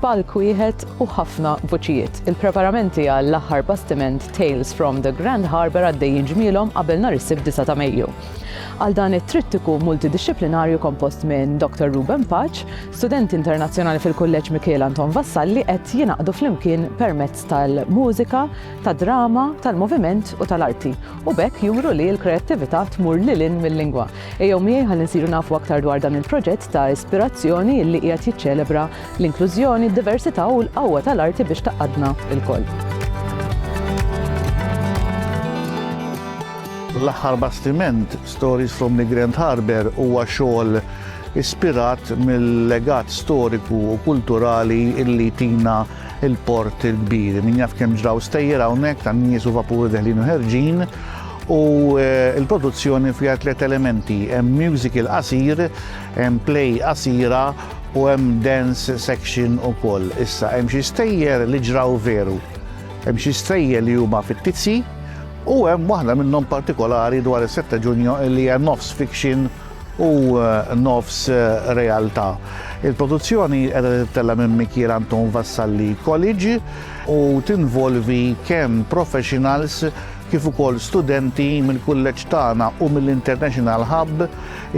Palk wieħed u ħafna vuċijiet. Il-preparamenti għall-aħħar bastiment Tales from the Grand Harbour għaddejjin ġmielhom qabel nhar is-Sibt 9 ta' Mejju. Għal dan it-trittiku multidixxiplinarju kompost minn Dr. Ruben Paċ, studenti internazzjonali fil-Kulleġġ Mikiel Anton Vassalli qed jingħaqdu flimkien permezz tal-mużika, tad-drama, tal-moviment u tal-arti u b'hekk juru li l-kreattività tmur lil hinn mil-lingwa. Ejjew miegħi ħalli nsiru nafu aktar dwar dan il-proġett ta' ispirazzjoni li qiegħed jiċċelebra l-inklużjoni, d-diversità u l-qawwa tal-arti biex tgħaqqadna lkoll. L-aħħar bastiment, Stories from the Grand Harbour, huwa xogħol ispirat mill-legat storiku u kulturali illi tina il-port il-kbir. Min jaf kemm ġraw stejjer hawnhekk tan nies u vapuri deħlin u ħerġin u eh, l-produzzjoni fiha tliet elementi, hemm musical qasir, hemm play qasira u hemm dance section ukoll. Issa hemm xi stejjer li ġraw veru. Hemm xi stejjer li huma fittizzi u hemm waħda minnhom partikolari dwar is-7 Ġunju li hija nofs fiction u nofs realtà. Il-produzzjoni qiegħda tittella' minn Mikiel Anton Vassalli College u tinvolvi kemm professionals kif ukoll studenti mill-kulleġġ tagħna u mill-International Hub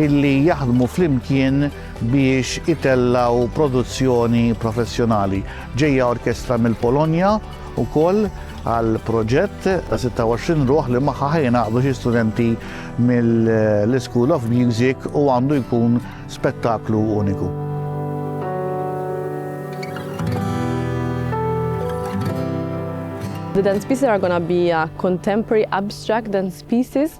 illi jaħdmu flimkien biex itellgħu produzzjoni professjonali. Ġejja orkestra mill-Polonja wkoll għal proġett ta' 26 ruħ li magħha ħajnaqdu xi studenti mill-School of Music u għandu jkun spettaklu uniku. The dance pieces are going to be uh, contemporary abstract dance pieces